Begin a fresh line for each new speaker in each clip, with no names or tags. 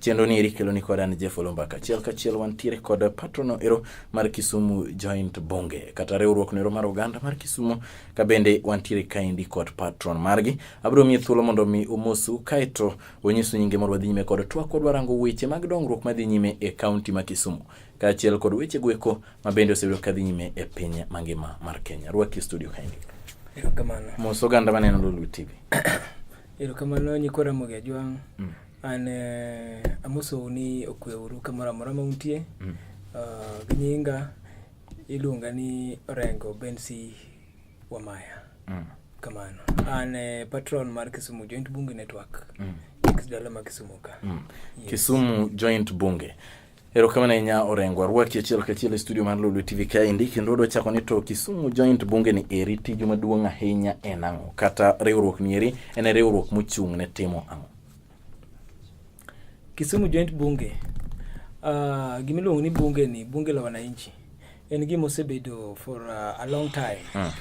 Chenro ni eri kelo ni kod an Jeff Olomba kachiel kachiel wantiere kod patrono ero mar Kisumu Joint Bunge kata riwruok no ero mar oganda mar Kisumu ka bende wantiere kaendi kod patron margi. Abiro miye thuolo mondo mi umosu kaeto onyisu nyinge mondo wadhi nyime kod twak wadwa rango weche mag dongruok madhi nyime e kaunti ma Kisumu kaachiel kod weche gweko ma bende osebedo kadhi nyime e piny mangima mar Kenya. Rwaki studio kaendi. Erokamano.
Mos oganda maneno
Lulu TV. Erokamano
Nyikora Mogejwang'. Mm. An eh, amosou ni okwe uru kamoro amora ma untie. Mm. Uh, gi nyinga iluonga ni Orengo Bensi Wamaya. Mm. Kamano. An eh, patron mar Kisumu Joint Bunge Network. Mm. Dala ma Kisumu ka. Mm. Yes. Kisumu
Joint Bunge. Erokamano ahinya Orengo, arwaki achiel kachiel e studio mar Lulu TV kaendi kendo wadwa chako ni to Kisumu Joint Bunge ni eri tiju maduong' ahinya en ang'o? Kata riwruok ni eri en e riwruok mochung' ne timo ang'o?
Kisumu Joint Bunge uh, ah, gimiluongo ni bunge ni bunge la wananchi en gima osebedo for uh, a long time mm.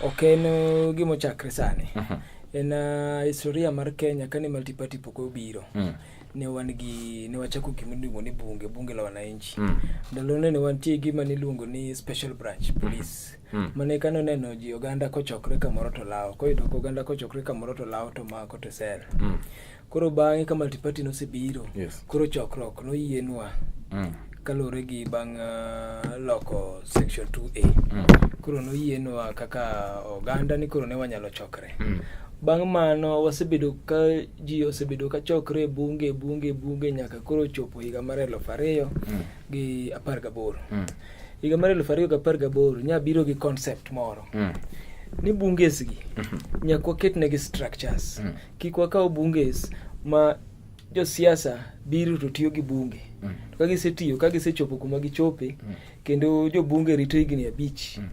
ok en uh, gima ochakre sani mm -hmm. en uh, historia mar Kenya kane multiparty pok obiro mm. ne wan gi ne wachako gima iluongo ni bunge bunge la wananchi mm. ndalone ne wantie gima niluongo ni special branch mm. police mm. mm. mane kano neno ji oganda kochokre kamoro to lawo koyudo ko oganda kochokre kamoro to lawo to mako to sel mm. koro bang'e ka multiparty nosebiro yes. koro chokruok noyienwa mm. kaluwore gi bang' uh, loko section 2a mm. koro noyienwa kaka oganda ni koro ne wanyalo chokre mm. bang' mano wasebedo ka ji osebedo ka chokre e bunge bunge bunge nyaka koro chopo higa mar eluf ariyo mm. gi apar gaboro mm. higa mar eluf ariyo gi apar gaboro nya biro gi concept moro mm. ni bunges gi mm -hmm. nyak waketnegi structures mm. kik wakaw bunges ma josiasa biro to tiyo gi bunge mm. to ka gisetiyo ka gisechopo kuma gichope mm. kendo jobunge rito higni abich mm.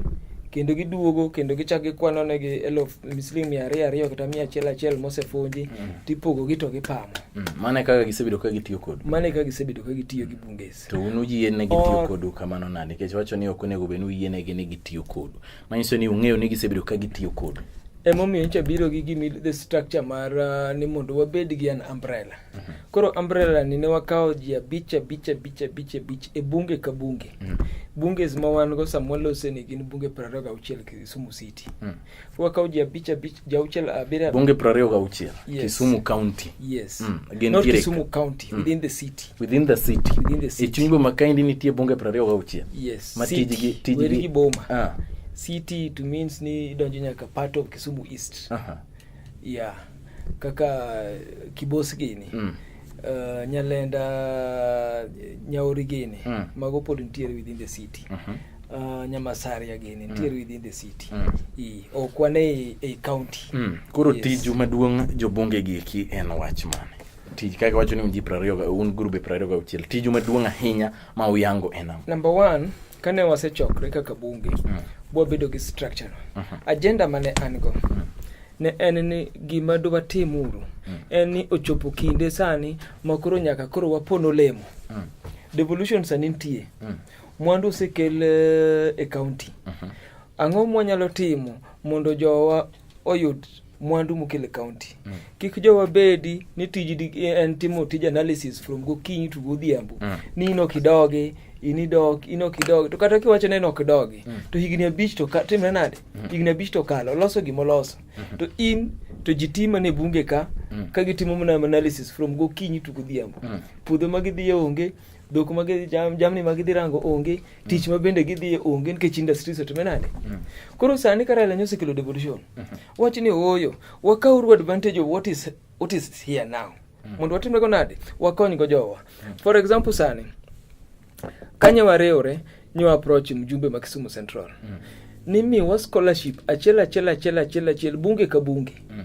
kendo giduogo kendo gichak gikwano negi elf siling mia ariyo ariyo kata mia achiel achiel mosefunji mm. tipogogi to gipamo mm. mane kaka
gisebedo ka gitiyo kodu mane kaka gisebedo ka
gitiyo gi bunges to un uyienegi tiyo
kodu kamano nade nikech wacho ni ok onego bed ni uyienegi ni gitiyo kodu manyiso ni ung'eyo ni gisebedo ka gitiyo kodu emomiyo nyicha biro
gi gimi the structure mar uh, ni mondo wabed gi an umbrella mm -hmm. koro umbrella ni ne wakawo ji abich abich abich abich abich e bunge ka bunge mm -hmm. bunges ma wan go sama walose ni gin bunge piero ariyo gauchiel kisumu city mm -hmm. wakawo ji abich abich jauchiel abiriyo bunge piero ariyo gauchiel
yes. kisumu county yes mm.
Not kisumu
county mm.
within the city within the city within
the city ichuny boma kaendi nitie bunge piero ariyo gauchiel yes ma
tijgi tijgi
boma ah.
city it means ni idonjo nyaka part of Kisumu East uh -huh. yeah kaka Kibos gini mm. Uh, Nyalenda Nyauri gini mm. mago pod nitiere within the city uh -huh. Uh, Nyamasaria gini mm. nitiere mm. within the city mm. e, ok wane e, e county mm. koro yes. tiju
maduong' jobunge gi eki en wach mane tij kaka wacho ni ji prariyo un grube prariyo gauchiel tiju maduong' ahinya ma uyango en ang'o number one
kane wasechokre kaka bunge mm. bwabedo gi structure uh mhm. -huh. agenda mane an go mm. ne en ni gima dwatim uru mm. en ni ochopo kinde sani ma koro nyaka koro wapon olemo mm. devolution sani nitie mm. mwandu osekel uh, e county uh mhm. -huh. ang'o mwanyalo timo mondo jowa oyud mwandu mokele county mm. kik jowa bedi ni tij en timo tij analysis from gokinyi to godhiambo mm. ni ino kidogi inidok ino kidogi to kata kiwacho ni ino kidogi mm. to higni abich to timre nade mm. higni abich to kalo loso gima oloso mm -hmm. to in to ji ti mana e bunge ka mm. ka gitimo mana analysis from gokinyi to godhiambo mm. puodho ma gidhiye onge dhok ma gidhi jam, jamni ma gidhi rango onge mm. tich ma bende gidhiye onge nikech industries otime nade mm. koro sani ka Raila osekelo devolution mm -hmm. wach ni ooyo wakauru advantage of what is, what is here now mm. mondo watimrego nade wakonygo jowa mm. for example sani kanye warewre nyo approach mjumbe ma Kisumu Central mm. nimiwa scholarship achiel achiel achiel achiel achiel bunge ka bunge mm.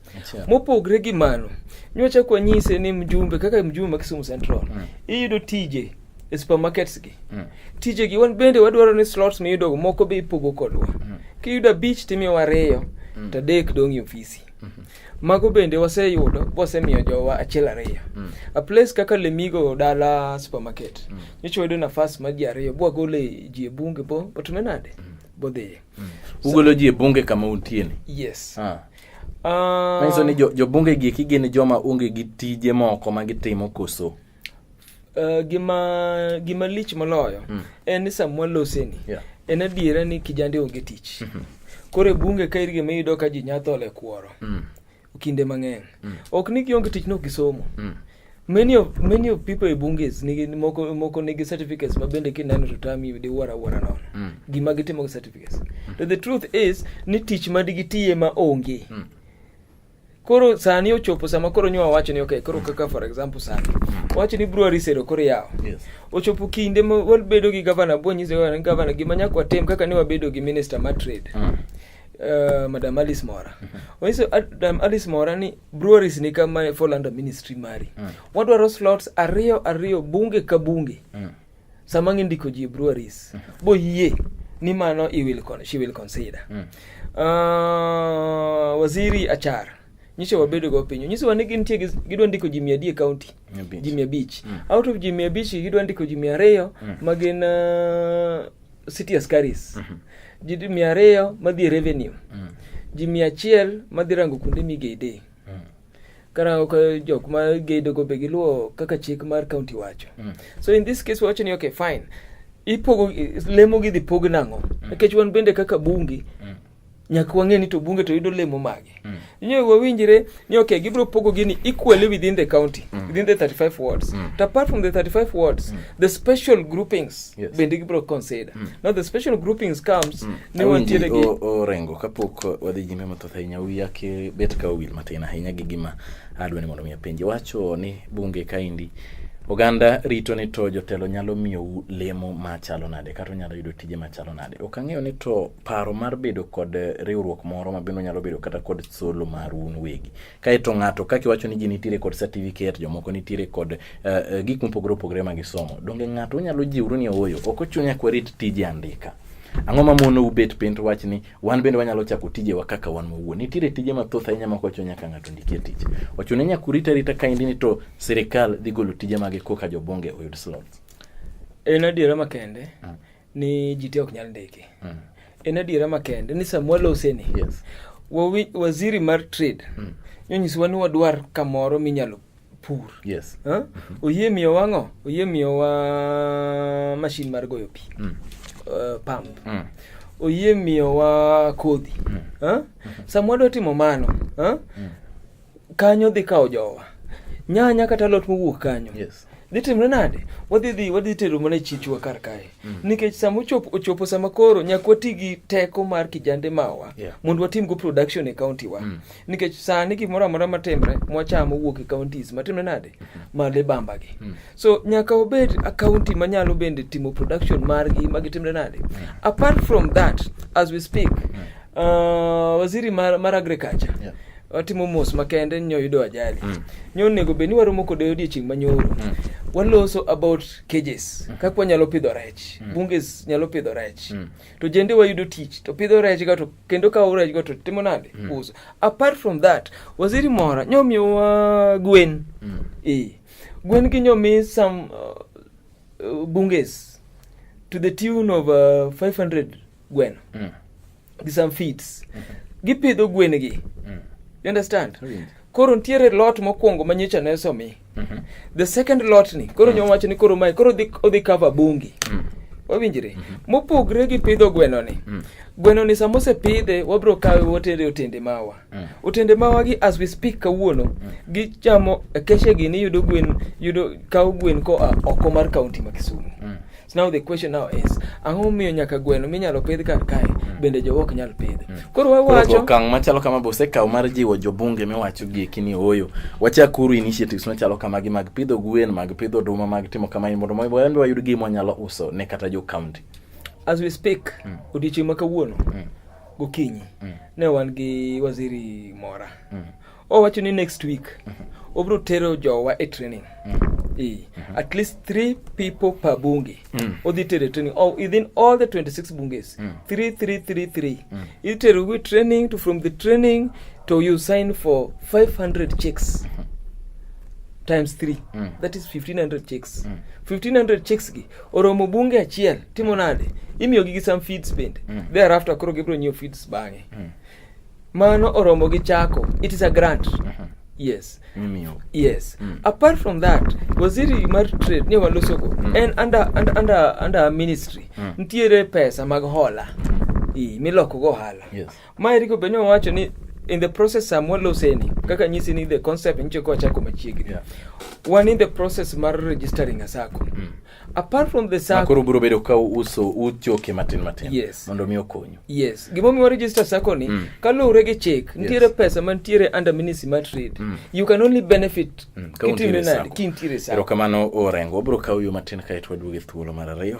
Mopogre gi mano, nyocha kwa nyise ni mjumbe kaka mjumbe ma Kisumu Central mm. iyudo tije e supermarkets gi mm. tije gi wan bende wadwaro ni slots miyudo moko be ipogo kodwa mm. kiyudo abich timiyo ariyo mm. to adek dong' e ofisi mm -hmm. mago bende waseyudo wasemiyo jowa achiel ariyo mm. a place kaka lemigo dala supermarket mm. nyocha wayudo nafas ma ji ariyo bwagole ji e bunge bo otume nade mm. bodhiye mm. ugolo ji
e bunge kama untieni yes ah. Uh, ni jo, jobunge gi gin joma onge gi tije moko ma gitimo koso? Uh, gima
gima lich moloyo mm. en ni samwa loseni yeah. en adiera ni kijande onge tich mm -hmm. koro e bunge ka irgi miyudo ka ji nyathole kworo mm. kinde mang'eny mm. ok ni gionge tich nok gisomo mm. many of many of people e bunges nigi moko moko nigi certificates ma bende kineno to tami de wara wara nono mm. gima gitimo gi certificates mm. to the truth is ni tich ma digitiye ma onge mm. koro sani ochopo sama koro nyowa wacho ni okay koro mm. kaka for example sani mm. wacho ni brewery sero koro yawo yes. ochopo kinde ma wabedo gi governor bo nyiso governor gima nyaka watem kaka ne wabedo gi minister ma trade mm. Uh, madam alice mora mhm. onyiso uh, madam alice mora ni breweries ni kama fall under ministry mari mm. wadwaro slots ariyo ariyo bunge ka bunge mm. sama ng'indiko ji breweries mm. boyie ni mano i will con she will consider mm. uh, waziri achar nyiso wabedo go piny nyiso wani gin tie gidwa ndiko ji mia adek county ji mia abich mm. out of ji mia abich gidwa ndiko ji mia ariyo mm. ma gin uh, city askaris mm -hmm. ji mia ariyo madhi e revenue mm -hmm. ji mia achiel madhi rango kuonde migede mm -hmm. karango ka jok ma gedo go be giluwo kaka chik mar county wacho mm -hmm. so in this case wacho ni okay fine ipogo lemo gidhi pog nang'o mm. nikech mm -hmm. wan bende kaka bungi mm -hmm. nyaka wang'e ni to bunge to yudo lemo mage mm. nyo wawinjire ni okay gibiro pogo gini equally within the county mm. within the 35 wards mm. to apart from the 35 wards mm. the special groupings yes. bende gibiro consider mm. now the special groupings comes mm. ne wantiere gi orengo kapok
wadhi nyime mathoth ahinya wiya ake bet ka owil matin ahinya gi gima adwa ni mondo mi apenji wacho ni bunge kaindi oganda rito ni to jotelo nyalo miyou lemo machalo nade kata onyalo yudo tije machalo nade ok ang'eyo ni to paro mar bedo kod eh, riwruok moro ma bende onyalo bedo kata kod solo mar un wegi kaeto ng'ato kaka iwacho ni ji nitiere kod certificate jomoko nitiere kod uh, gik mopogore opogore ma gisomo donge ng'ato onyalo jiwru ni ooyo ok ochuno nyaka warit tije andika ang'o ma mono ubet piny to wach ni wan bende wanyalo chako tijewa kaka wan mowuo nitiere tije mathoth ahinya ma kocho nyaka ng'ato ndikie tich ochuno nyaka urit arita kaindi ni to sirikal dhi golo tije mage koka jobonge oyud slots en
adiera makende mm. ni ji te ok nyal ndiki mm. en adiera makende ni sama waloseni yes. waziri mar trade mm. nyonyisowa ni wadwar kamoro minyalo pur yes. huh? oyie miyo wang'o oyie miyo wa mashin mar goyo pi mm. uh, pump mm. oyie miyo wa kodhi mm. huh? sama wadwa timo mano huh? mm. kanyo dhi kawo jowa nyanya kata lot mowuok kanyo yes. dhi timre nade wadhi dhi wadhi tero mana chichwa kar kae mm. nikech sama ochopo, ochopo sama koro nyaka wati gi teko mar kijande mawa yeah. mondo watimgo production e county wa mm. nikech sani gimoro amora matimre mwachamo wuok e counties matimre nade mm. made bambagi mm. so nyaka obed a county manyalo bende timo production margi magitimre nade yeah. apart from that as we speak yeah. uh, waziri mar, mar agriculture yeah watimo mos makende nyo yudo ajali mm. nyo onego bed ni waromo kode odiechieng' manyoro mm. waloso about cages mm. kaka wanyalo pidho rech mm. bunges nyalo pidho rech mm. to jende wayudo tich to pidho rech ga to kendo kawo rech ga to timo nade mm. uso apart from that waziri mora nyo miyowa gwen mm. e Gwen Kinyo means some uh, uh, bunges to the tune of uh, 500 gwen mm. gi some feeds mm -hmm. gipidho gwengi mm. you understand oh, yeah. koro ntiere lot mokwongo ma nyicha ne somi mm -hmm. the second lot ni koro mm. nyom wacho ni koro mae koro odhi cover bungi mm. wawinjre mm -hmm. mopogre gi pidho gwenoni mm. gwenoni sama osepidhe wabiro kawe wotere otende mawa Mm. Otende mawagi as we speak kawuono mm. gichamo keshegi ni yudo gwen yudo kawo gwen koa oko mar kaunti ma Kisumu. Mm. So now the question now is ang'o miyo nyaka gweno minyalo pidh kar kae mm. bende jowa ok nyal pidh. Mm. Koro wawacho okang' machalo kama be
osekawo mar jiwo jobunge miwacho gi kini oyo. Wachakuru initiatives machalo kamagi mag pidho gwen, mag pidho oduma, mag timo kamano mondo wayud wayud gima wanyalo uso ne kata jo kaunti. As we speak,
mm. odiechieng' ma kawuono mm. Gokinyi mm. ne wan gi waziri Mora mm. owacho ni next week mm -hmm. obiro tero jowa e training mm -hmm. E. Mm-hmm. At least three people per bunge mm. odhi tere training oh, within all the 26 bunges mm. three, three, three, three. Mm. itero wi training to from the training to you sign for 500 checks mm-hmm. times 3 mm. that is 1500 checks mm. 1500 checks gi oromo bunge achiel timo nade imiyo gi some feeds bende mm. thereafter koro gibiro nyiewo feeds bang'e mm. mano oromo gi chako it is a grant mm -hmm. yes Mimio. yes mm. apart from that waziri mar trade ni walosogo mm. en under, under, under, under ministry mm. ntiere pesa mag hola mm. milokogo ohala yes. Ma Eriko be
nowacho
ni in the process samwa loseni kaka nyisi ni the concept nyicho ko chako machiegni yeah. wan in the process mar registering a sacco mm. apart from the sacco makoro biro bedo ka uso
uchoke matin matin yes. mondo mi
okonyu
yes gimo mi register
sacco ni mm. kaluwre gi chik nitiere yes. pesa mantiere under ministry mar trade mm. you can only benefit mm. kitime nadi kintiere sacco erokamano orengo wabiro
kawo yo matin kae to waduoge thuolo mar ariyo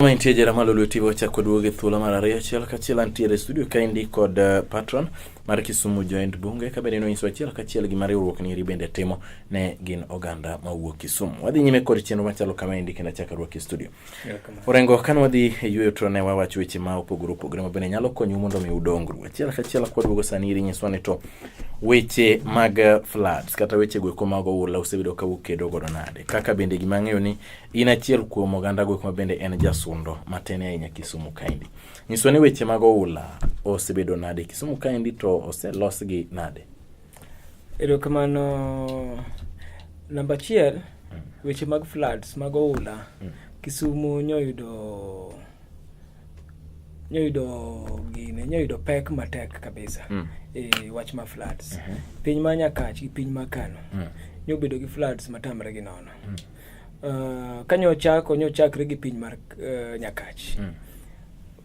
Ma intie jera malo lweti wachako duogo e thuolo mar ariyo achiel kachiel antiere e studio kaendi kod uh, patron mar Kisumu Joint Bunge ka bende nonyiso achiel kachiel gima riwruok ni eri bende timo ne gin oganda ma wuok Kisumu. Wadhi nyime kod chenro machalo kama endi kendo achaka ruok e studio. Orengo kan wadhi e yueyo to ne wawacho weche ma opogore opogore ma bende nyalo konyu mondo mi udongru. Achiel kachiel kwa duogo sani iri nyiswa ni to weche mag uh, floods kata weche go eko mag oula osebedo ka ukedo godo nade. Kaka bende gima ng'eyo ni In achiel kuom oganda gwek ma bende en jasundo matin ahinya Kisumu kaendi. Nyiswa ni weche mag oula osebedo nade Kisumu kaendi to oselosgi nade? Erokamano.
Namba achiel, hmm. weche mag floods mag oula hmm. Kisumu nyoyudo nyoyudo gine nyoyudo pek matek kabisa mm. e wach ma floods mm -hmm. piny ma nyakach gi piny ma kano mm. nyobedo gi floods matamre gi nono mm. Uh, kanyo chako nyo chakre gi piny mar uh, nyakach mm.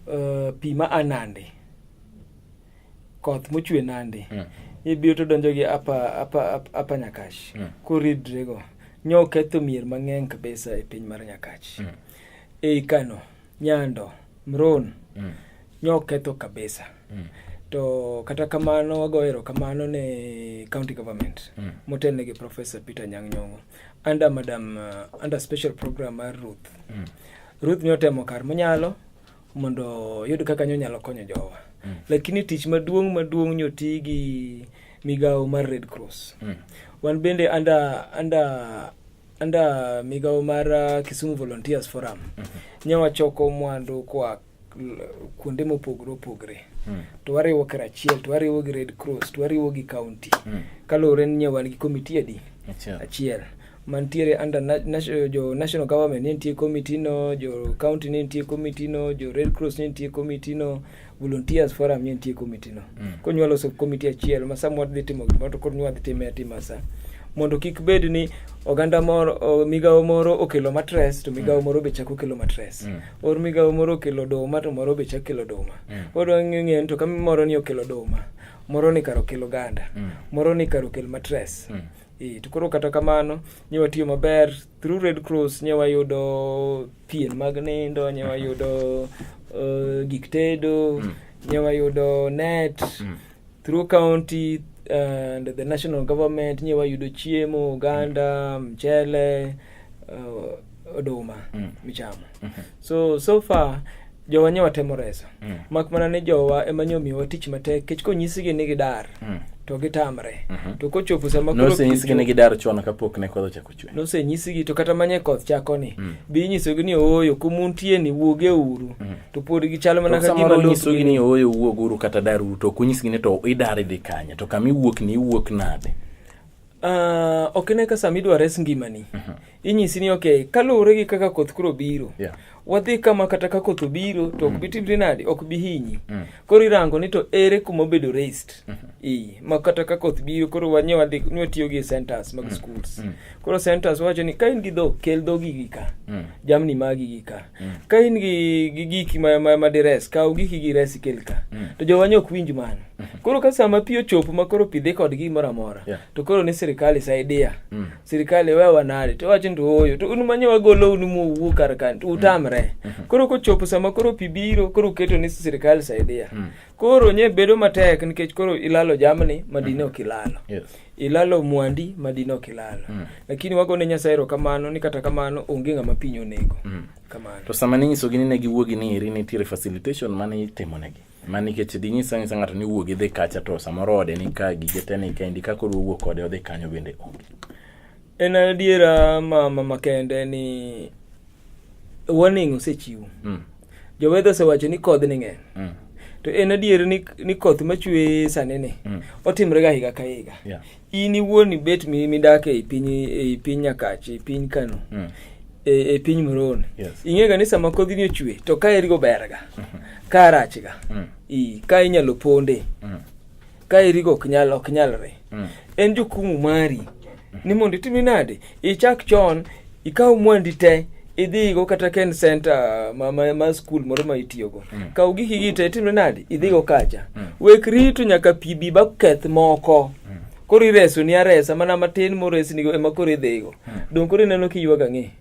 uh, pi ma anande koth mochwe nande mm. ibiro to donjo gi apa apa apa nyakach mm. koridre go nyo ketho mier mang'eny kabisa e piny mar nyakach mm. ei kano nyando mron mm. nyo ketho kabisa mm. to kata kamano wagoero kamano ne county government mm. motelne gi professor peter nyang' nyong'o under madam uh, under special program mar Ruth mm. Ruth ne otemo kar monyalo mondo yud kaka nyonyalo konyo jowa mm. lakini tich maduong' maduong' nyoti gi migawo mar Red Cross mm. wan bende under under under migawo mar uh, Kisumu Volunteers Forum mm -hmm. nyawa choko mwandu kwa kuonde mopogore opogore mm. to wariwo karachiel to wariwo gi red cross to wariwo gi county mm. kaluwore ni wan gi komiti adi achiel mantiere under national, jo national government ne nitie komiti no jo county ne nitie komiti no jo red cross ne nitie komiti no volunteers forum ne nitie komiti no mm. koro nywa loso komiti achiel ma samoro dhi timo gimoro to koro nywa dhi time atima sa mondo kik bed ni oganda moro migawo moro okelo matres to migawo mm. moro be chako kelo matres mm. or migawo moro okelo oduma to moro be chak kelo oduma mm. pod wang'eyo ni to kama moro ni okelo oduma moro ni kar okelo ganda mm. moro ni kar okel matres mm. e, to koro kata kamano nye watiyo maber through red cross nye wayudo pien mag nindo nye wayudo uh, gik tedo mm. nye wayudo net mm. Through county and the national government nye wayudo chiemo, oganda, mchele, uh, oduma mm. michamo. Mm -hmm. So so far jowa nye watemo reso. Mm. Mak mana ni jowa ema nye omiyowa tich matek kech konyisigi ni gidar. Mm. To gitamre. Mm -hmm. To kochopo sama koro no, koro kicho. No, senyisigi ni gidar chon
kapok ne kodho chakula. nosenyisigi to kata manye
koth chako ni mm. bi nyisogi ni ooyo kumuntie ni wuoge uru mm. to pod gichalo mana ka gima nyisogi ni ooyo wuog
uru kata dar uru to kunyisgi ni to idar idhi kanye to kama iwuok ni iwuok nade Uh,
ok ne ka sama idwa res ngimani mm -hmm. inyisi ni ok kaluwore gi kaka koth kuro biro yeah. wadhi kama kata ka koth obiro to ok mm. bi timre nade ok bi hinyi mm. koro irango ni to ere kuma obedo raised mm-hmm. i ma kata ka koth biro koro wanye wadhi ni watiyo gi centers mag mm. schools koro centers wacho ni ka in gi dhok kel dhogi gi ka jamni magi gi ka ka in gi gi giki ma ma, ma dires kaw giki gi res kel ka to jowanye ok winj mano mm-hmm. koro ka sama pi ochopo ma koro pidhe kod gi moro amora to koro ni sirikal isaidea sirikal iwewa nade to wacho ndio oyo to un manye wagolo un muwuo kar kan to utamre mm. mm-hmm. koro kochopo sama koro pi biro koro uketo ni sirikal saidia mm. koro nye bedo matek nikech koro ilalo jamni madine mm-hmm. ok ilalo yes. ilalo mwandi madine ok ilalo mm. lakini wagone nyasaye erokamano ni kata kamano onge ng'ama piny onego mm. kamano to sama ninyisogi ni
ne giwuogi ni eri nitiere facilitation mane itimonegi ma nikech dinyisa nyisa ng'ato ni wuogi dhi kacha to samoro ode ni ka gige te ni kendi ka koro owuok kode odhi kanyo bende onge en
adiera ma mama kende ni warning osechiwo mm. jowedho osewacho ni kodh ni ng'eny mm. to en adier ni, ni koth machwe sani ni mm. otimre ga higa ka higa yeah. in iwuon ibet midak ei piny ei piny nyakach ei piny kano mm. e, e piny moroni yes. ing'ega ni sama kodhini ochwe to ka erigo berga mm -hmm. ka arachga mm. i ka inyalo ponde mm. ka erigo ok nyal ok nyalre mm. en jukumu mari mm. ni mondo itimi nade ichak chon ikaw mwandi te idhigo kata ken center ma, ma, ma skul moro ma itiyogo mm. kaw giki gite itimre nadi idhigo mm. kacha mm. wek rito nyaka pi bi baketh moko mm. koro ireso ni aresa mana matin moresnigo ema koro idhigo mm. dong koro ineno kiywaga ng'e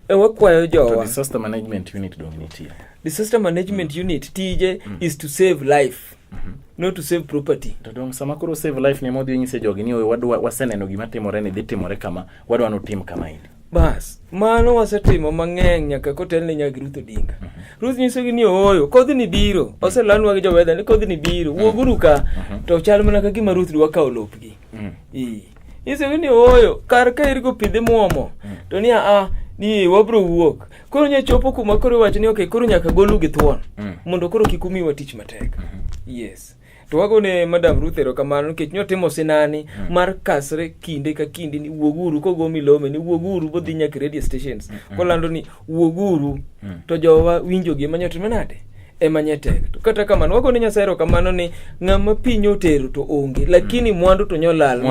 E, wakwayo jowa disaster
management
unit
dong nitie disaster management
mm. unit tije mm. is to save life mm -hmm. not to save property to dong sama koro save
life ni modhi nyise jogi ni wadwa waseneno gima timore ni dhi timore kama wadwa no tim kama ini bas mano
wasetimo mang'eny nyaka kotel ne nyaka ruth odinga mm -hmm. ruth nyisogi ni ooyo kodhi ni biro oselanwa gi jowedha ni kodhi ni biro wuoguru ka mm -hmm. to chal mana ka gima ruth dwa kawo lopgi mm. ee. ise ni oyo kar ka irgo pidhe muomo mm. to ni a ni wabro wuok koro nya chopo kuma koro iwacho ni okay koro nyaka golu gi thuon mm. mondo koro kik umiwa tich matek mm -hmm. yes to wagone madam ruth erokamano nikech notimo sinani mm. mar kasre kinde ka kinde ni wuoguru kogo milome ni wuoguru bodhi nyaka radio stations mm -hmm. kolando ni wuoguru hmm. to jowa winjogi ema nyalo timo nade ema nye tek to kata kamano wago ni nyasaye erokamano ni ng'ama piny otero to onge lakini hmm. mwandu to nyolal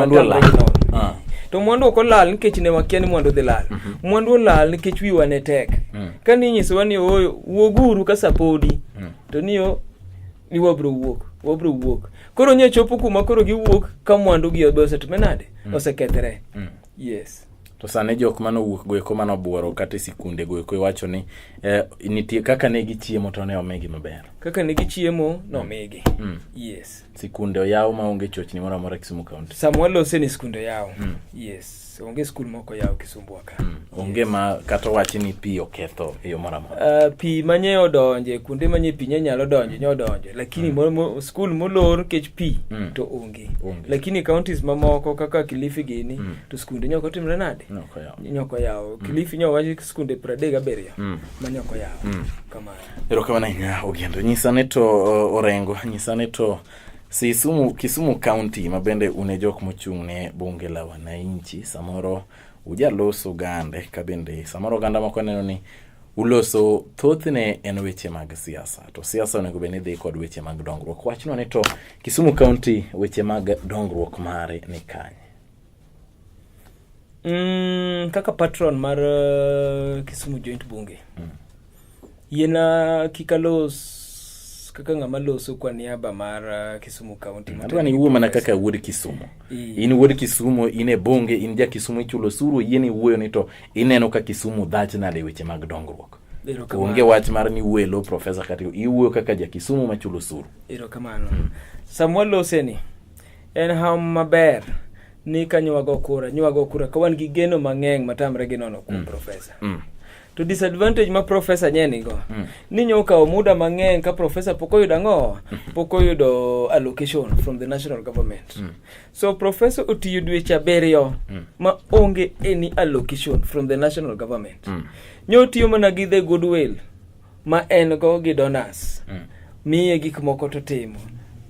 ah. to mwandu ok olal nikech ne wakia ni mwandu dhi lal mhm. mwandu olal nikech wiwa ne tek hmm. ka ni inyisowa ni ooyo wuoguru ka sapodi to niyo ni wabro wuok wabro wuok koro nye chopo kuma koro giwuok ka mwandu gi obe osetime nade osekethre yes To sani jok
mane owuok go eko mane obuoro kata e sikunde go eko iwacho ni eh, nitie kaka ne gichiemo to ne omigi maber. Kaka ne gichiemo
nomigi. Mm. Yes. Sikunde oyaw
ma onge chochni moro amora Kisumu County. Sama walose ni sikunde
oyaw. Mm. Yes. Onge skul moko yaw Kisumbwa ka. Mm. Onge yes. ma
kata owachi ni pi oketho e yo moro amora. Uh, pi manye
odonje kuonde manye pi nye nyalo donje nye odonje lakini mm. skul molor kech pi mm. to onge. onge. Onge. lakini counties mamoko kaka kilifi gini mm. to skunde nyoko timre nade Nyoko yawo. nyoko yawo mm. kilifi nyo wachi skunde pradek abiriyo mm. ma nyoko yawo mm. kamano erokamano ahinya
ogendo nyisa ni to uh, orengo nyisa ni to sisumu kisumu county ma bende un e jok mochung' ne bunge la wananchi samoro ujaloso gande ka bende samoro oganda moko neno ni Uloso thothne en weche mag siasa, to siasa onego bed ni dhi kod weche mag dongruok. Wachno ni to Kisumu County weche mag dongruok mare ni kanye? Mm,
kaka patron mar uh, Kisumu Joint Bunge mm. yiena kik alos kaka ng'ama loso kwa niaba mar uh, Kisumu County. Nataka ni uwe mana kaka
wuod Kisumu. In wuod Kisumu, in e bunge, in ja Kisumu ichulo suru, yieni wuoyo ni to ineno ka kisumu dhach nade weche mag dongruok onge wach mar ni welo profesa kata iwuoyo kaka ja kisumu machulo suru erokamano hmm.
samwa loseni en ham maber ni ka nywago kura nywago kura ka wan gi geno mang'eny matamre gi nono kuom mm. profesa mm. to disadvantage ma profesa nye nigo mm. ni nyo kawo muda mang'eny ka profesa pok oyudo ang'o mm-hmm. pok oyudo allocation from the national government mm. So professor otiyo dweche abiriyo mm. ma onge any allocation from the national government. Mm. Nyo otiyo mana gi the goodwill ma en go gi donors. Mm. Miye gik moko to timo.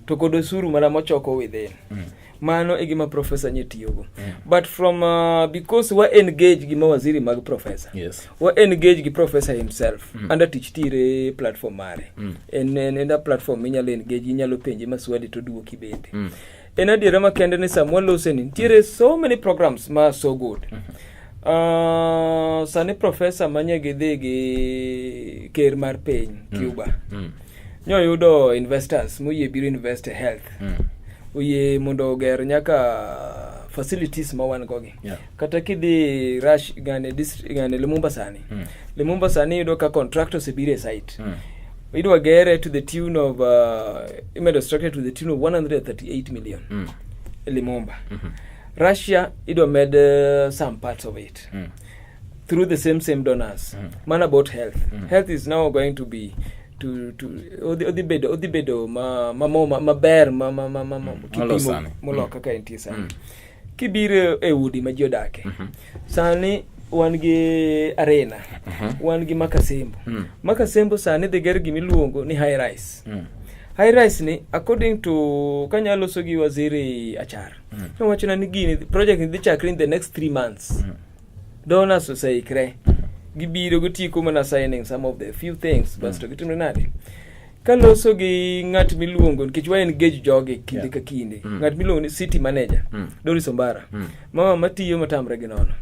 To kod osuru mana mochoko within. Mm. Mano e gima professor nye tiyogo. Mm. But from uh, because wa engage gi mawaziri mag professor. Yes. Wa engage
gi
professor himself. Mm. Anda tich tire platform mare. Mm. En en, en platform minyalo engage inyalo penje maswali to duoki bende. Mm. En adiera makende ni samwa loseni nitiere so many programs ma so good. Mm -hmm. Uh, sani profesa manye gidhi gi ker mar piny mm. Cuba mm. mm. nyoyudo investors moyie biro invest e health mm. oyie mondo oger nyaka facilities ma wan gogi yeah. kata kidhi rush gane district gane Lumumba sani mm. Lumumba sani yudo ka contractors e bire site mm. idwa gere to the tune of uh, imedo structure to the tune of 138 million mm. Lumumba mm -hmm. Russia idwa med uh, some parts of it mm. through the same same donors mm. man about health mm. health is now going to be to to odhi odhi bedo odhi bedo ma ma ma, ma, ma ber ma ma ma, ma, ma mm. kipimo moloka mm. ka entie sani mm. kibiro e udi ma ji odake mm -hmm. sani wan gi arena mm -hmm. wan gi makasembo mm -hmm. makasembo sani dhi ger gima iluongo ni high rise mm -hmm. high rise ni according to kanya loso gi waziri achar mm -hmm. nowachona ni gini project ni dhi chakre in the next three months mm -hmm. donors oseikre gibiro gitieko mana signing some of the few things basto hmm. gitimre nade kaloso gi ng'at miluongo nikech wa engage jogi kinde yeah. ka kinde mm. ng'at miluongo ni city manager mm. Doris Ombara mm. mama matiyo matamre gi nono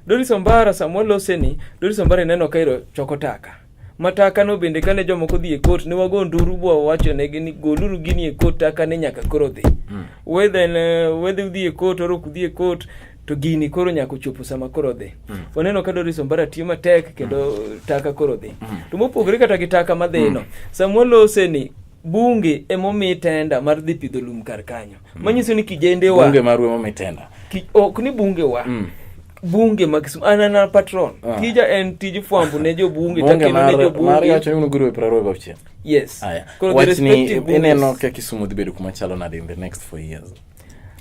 Doris Ombara samwa lose ni Doris Ombara ineno kairo choko taka Matakano bende kane jomoko dhi e kot ne wago nduru bwa wawachonegi ni goluru gini e kot takane nyaka koro dhi mm. wedhe eh, wedhe udhi e kot orok udhi e kot to gini koro nyaka ochopo sama koro dhi mm. waneno ka Doris Ombara tiyo matek kendo mm. taka koro dhi mm. to mopogore kata gi taka madhino mm. samwa lose ni bunge emomi tenda mar dhi pidho lum kar kanyo mm. manyiso ni kijendewa bunge marwa emomi tenda
ok ni bungewa
mm. bunge ma Kisumu anana patron ah. tija en tij fwambo ne jobunge takendo ne jobunge wacho ni unuguruwe praro
go chien yes
aya wachni
ineno ka Kisumu dhi bedo kuma chalo nade in the next four years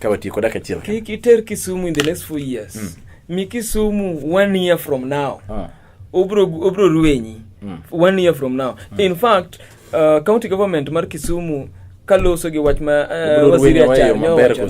ka watiyo koda kachiel kik iter Kisumu in the
next four years mm. mi Kisumu one year from now ah. obro obro ruenyi mm. one year from now mm. in fact Uh, county government mar Kisumu kaloso gi wach ma uh, waziri achar nyowacho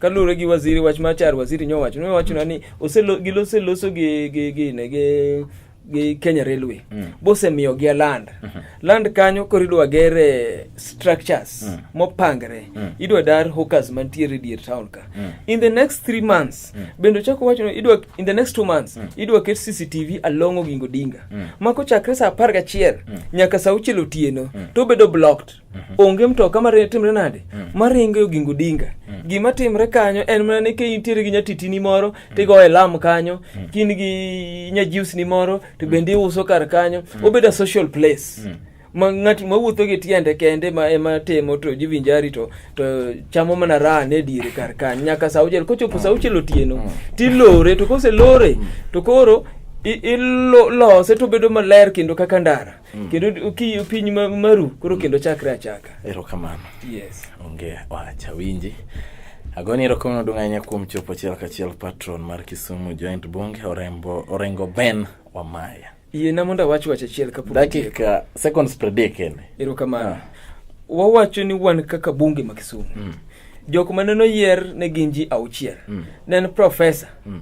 kalure gi waziri wach ma achar waziri nyowacho nowachona ni oseloso gi gi gi ne gi gi Kenya Railway mm. bosemiyo gi land mm -hmm. land kanyo koro idwa gere structures mm. mopangre mm. idwa dar hawkers mantiere dier town ka mm. in the next three months mm. bende ochako wacho ni idwa in the next two months mm. idwa ket cctv along ogingo dinga mm. ma kochakre saa apar gachiel mm. nyaka saa auchiel otieno mm. to obedo blocked mm -hmm. onge mtoka matimre nade mm. maringo e ogingo dinga mm. gima timre kanyo en mana ni kinitiere gi nyatitini moro mm. tigoye lam kanyo mm. kin gi nyajiusni moro to bende iuso kar kanyo mm. obedo a social place mm. ma ng'at ma wuotho gi tiende kende ma ema temo to jivinjari to to chamo mana raha ne dire kar kan nyaka sa auchiel kochopo sa auchiel otieno mm. tilore to kose lore mm. to koro ilose to bedo maler kendo kaka ndara mm. kendo kiyo piny maru koro kendo chakre achaka erokamano
yes onge
wacha
winji Agoni erokamano duong' ahinya kuom chopo achiel kachiel patron mar Kisumu Joint Bunge Orengo Ben Wamaya. Yiena mondo awach
wach achiel kapok dakika seconds
predict kende. Erokamano. Ah.
Wawacho ni wan kaka bunge ma Kisumu. Mm. Jok ma neno yer ne gin ji auchiel. Mm. Ne en professor. Mm.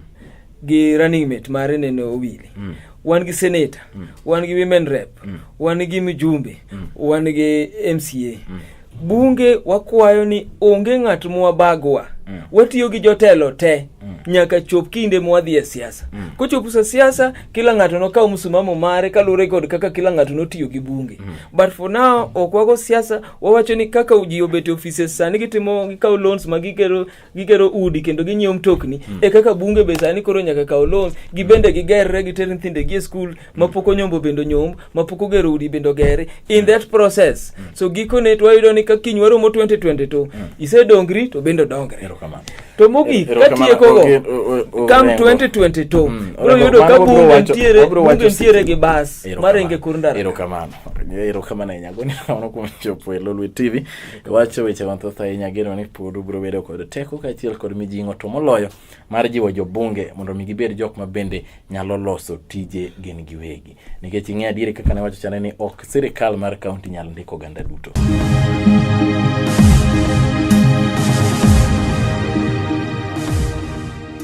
Gi running mate mare neno Owili. Mm. Wan gi senator, mm. wan gi women rep, mm. wan gi mjumbe, mm. wan gi MCA. Mm. Bunge wakwayo ni onge ng'at mwabagwa. Mm. Watiyo gi jotelo te mm. nyaka chop kinde mwadhi e siasa. Mm. Kochopo sa siasa, kila ng'ato nokaw msimamo mare kaluwore kod kaka kila ng'ato notiyo gi bunge. Mm. But for now ok wago siasa, wawacho ni kaka ji obet e offices sani gitimo gikawo loans ma gigero gigero udi kendo ginyiewo mtokni mm. e kaka bunge be sani koro nyaka kaw loan gibende gigerre giter nyithindegi e skul hmm. mapok onyombo bende onyomb mapok ogero udi bende ogere in hmm. that process mm. so gikone twayudo ni ka kiny waromo 2020 to mm. isedongri to bende odongre to mogik katiekogo kam 2022 hmm. bro yudo ka bunge ntiere bunge ntiere gi bas marenge kor ndara erokamano erokamano
ahinya goni kamano kuom chopo e lolwe tv Wacho weche mathoth ahinya ageno ni pod ubiro bedo kod teko kaachiel kod mijing'o to moloyo mar jiwo jobunge mondo mi gibed jok ma bende nyalo loso tije gin giwegi. Nikech ing'e adieri kaka ne wacho chane ni ok sirikal mar kaunti nyal ndiko oganda duto.